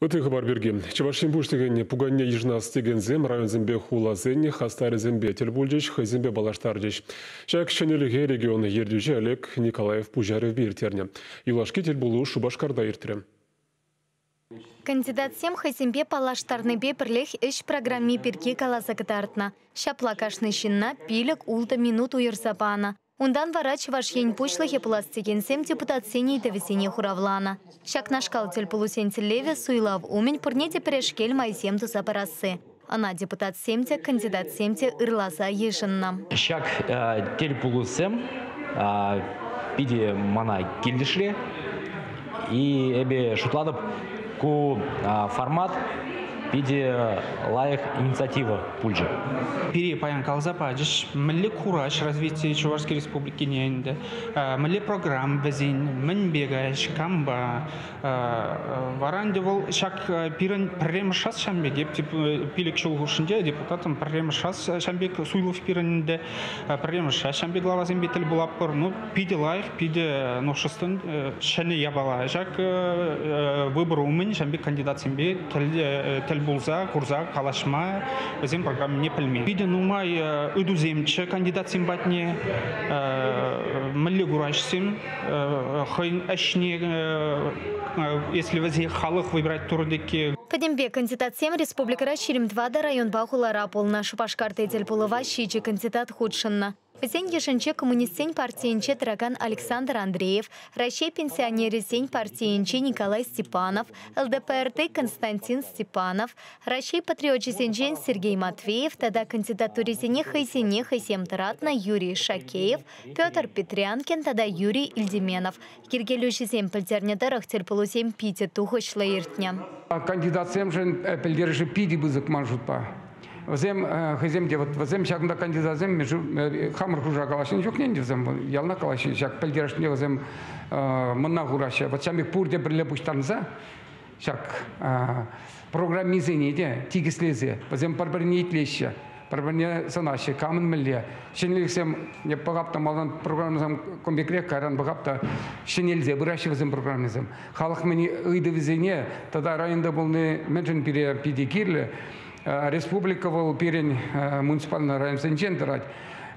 Ытти хыпар пирки. Чӑваш Ен Пуҫлӑхӗн пуканне йышӑнас текенсем районсемпе хуласен хастарӗсемпе тӗл пулчӗҫ, хӑйсемпе паллаштарчӗҫ. Ҫак ҫӗнӗлӗхе регион ертӳҫи Олег Николаев пуҫарӑвӗпе ирттернӗ. Юлашки тӗл пулу Шупашкарта иртрӗ. Кандидатсем хӑйсемпе паллаштарнипе пӗрлех ӗҫ программи пирки каласа кӑтартнӑ. Ҫапла кашни ҫынна пилӗк-ултӑ минут уйӑрса панӑ. Унтан вара Чӑваш Ен Пуҫлӑхӗ пулас текенсем депутатсен ыйтӑвӗсене хуравланӑ. Ҫакнашкал тӗлпулусен тӗллевӗ суйлав умӗн пурне те пӗрешкел майсем туса парасси. Ӑна депутатсем те, кандидатсем те ырласа йышӑннӑ. Ҫак тӗлпулусем питӗ мана килӗшрӗ. И эпе шутлатӑп, ку формат питӗ лайӑх инициатива пулчӗ. Пире паян каласа пачӗҫ, мӗнле кураж развития Чувашской Республикине ӗнтӗ, мӗнле программ вӗсен, мӗнпе каҫ, кампа. Вара ӗнтӗ вӑл ҫак пирӗн пӗрремӗш шас ҫам пек, эп пилӗк ҫул хушшинче депутатӑм пӗрремӗш шас ҫам пек Суйлов пирӗн ӗнтӗ Пӗрремӗш ачампи главасемпе тӗл пулатпӑр. Ну, питӗ лайӑх, питӗ нушӑстӑн ҫӗнӗ япала. Ҫак выбор умӗн ҫампи кандидатсемпе тӗл пулса, курса калаҫма, вӗсен программине пӗлме. Питӗ нумай ыйтусемччӗ кандидатсем патне, мӗнле кураҫсем, хӑйӗн ӗҫне, если вӗсен халӑх выбирать турӑннӑ Пӗтӗмпе кандидатсем республикӑра ҫирӗм тӑватӑ районпа хулара пулнӑ. Шупашкарти тӗл пулӑва ҫичӗ кандидат хутшӑннӑ. Вӗсен йышӗнче коммунистсен партийӗнче тӑракан Александр Андреев, Раҫҫей пенсионерӗсен партийӗнче Николай Степанов, ЛДПРти Константин Степанов, Раҫҫей патриочӗсенчен Сергей Матвеев тата кандидатурисене хӑйсене хӑйсем тӑратнӑ Юрий Шакеев, Петр Петрянкин тата Юрий Ильдеменов йӗркелӳҫӗсем пӗлтернӗ тӑрӑх тӗлпулусем питӗ тухӑҫлӑ иртнӗ. Кандидатсемшӗн пӗлтерӗшӗ питӗ пысӑк ман шутпа. Вӗсем хӑйсем те вот вӗсем ҫакӑнта кандидатсем хамӑр хушӑра калаҫнӑ чухне ӗнтӗ вӗсем ялана калаҫҫӗ ҫак пӗлтерӗшне вӗсем мӑнна хураҫҫӗ. Вот ҫам пек пурте пӗрле пуҫтарӑнса Ҫак программисене те тикӗслесе вӗсем пӗр-пӗрне итлеҫҫӗ, пӗр-пӗрне сӑнаҫҫӗ, камӑн мӗнле ҫӗнӗлӗхсем пӑхап та малтан программӑсем кун пекрех, кайран пӑхап та ҫӗнелсе пыраҫҫӗ вӗсем программисем. Халӑх мӗн ыйтӑвӗсене тата районта пулни мӗншӗн пире питӗ кирлӗ. Республика вӑл пирӗн муниципальный районсенчен тӑрать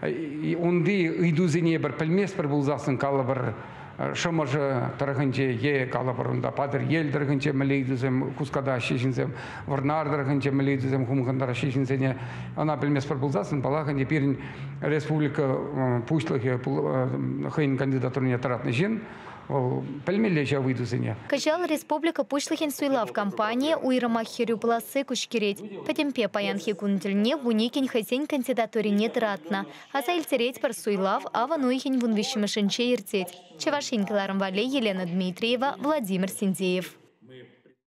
унти ыйтусене пӗр пӗлместпӗр пулсассӑн калӑпӑр Шӑмӑршӑ тӑрӑхӗнче е, калӑпӑр, унта Патӑрьел тӑрӑхӗнче мӗнле ыйтусем хускатаҫҫӗ ҫынсем, Вӑрнар тӑрӑхӗнче мӗнле ыйтусем хумхантараҫҫӗ ҫынсене, ӑна пӗлместпӗр пулсассӑн, паллах, ӗнтӗ пирӗн республика пуҫлӑхӗ хӑйӗн кандидатурине тӑратнӑ ҫын, вӑл пӗлмелле ҫав ыйтусене. Кӑҫал республика Пуҫлӑхӗн суйлав кампанийӗ уйрӑмах хӗрӳ пуласси куҫкӗрет. Пӗтӗмпе паянхи кун тӗлне вуникӗн хӑйсен кандидатурине тӑратнӑ. Аса илтеретпӗр, суйлав авӑн уйӑхӗн вун виҫҫӗмӗшӗнче иртет. Чӑваш Ен кӑларӑм валли Елена Дмитриева, Владимир Синдеев.